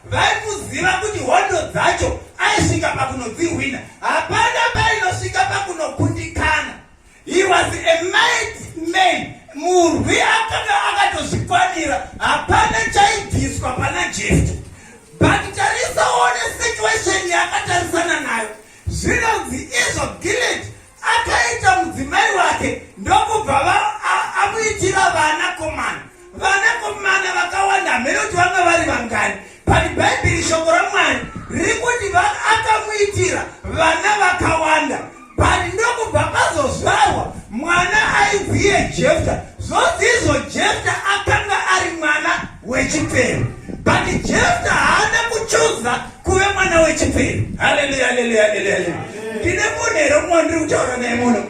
vaikuziva kuti hondo dzacho aisvika pakunodzihwina hapana painosvika pakunokundikana he was a might man murwi akanga akatozvikwanira hapana chaibviswa pana jefto but tarisaone situation yaakatarisana nayo zvinonzi izvo gileti akaita mudzimai wake ndokubva amuitira vana komana vana komana vakawanda hamene kuti vanga vari vangani but bhaibheri shoko ramwari riri kuti akamuitira vana vakawanda but ndokubva pazozvarwa mwana aiziye jefta zvodzizvo jefta akanga ari mwana wechipfero but jefta haana kuchuza kuve mwana wechipfero haleluya haleluya haleluya haleluya ndine munhu here umwe ndiri kutaura naye muno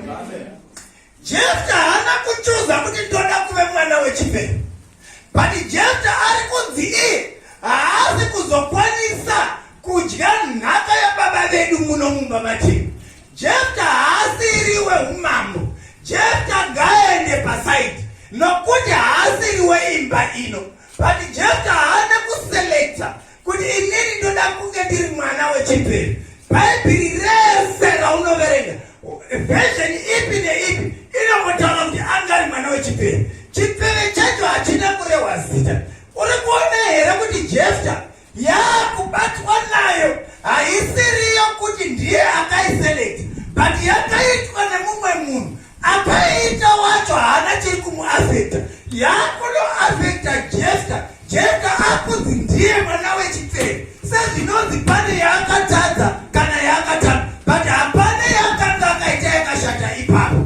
jefta haana kuchuza kuti ndoda kuve mwana wechipfero but jefta ari kunzi iye haasi kuzokwanisa kudya nhaka yababa vedu muno mumba matiri Jefta haasiri weumambo. Jefta ngaende pasaidi nokuti haasiri weimba ino. But Jefta haana kuselekta kuti inini ndoda kunge ndiri mwana wechipiri. Bhaibheri rese raunoverenga vhesheni ipi neipi inongotaura kuti anga ari mwana wechipiri. Chipiri chacho hachina kurehwa zita. Uri kuona here kuti Jefta Yaa kubatwa nayo haisiriyo kuti ndiye akaiselect but yakaitwa nemumwe munhu akaiita wacho haana chiri kumuafecta yaakunoafecta jesta jesta akunzi ndiye mwana wechipfere sezvinonzi pane yaakatadza kana yaakatamba but hapana yaakanga akaita yakashata ipapo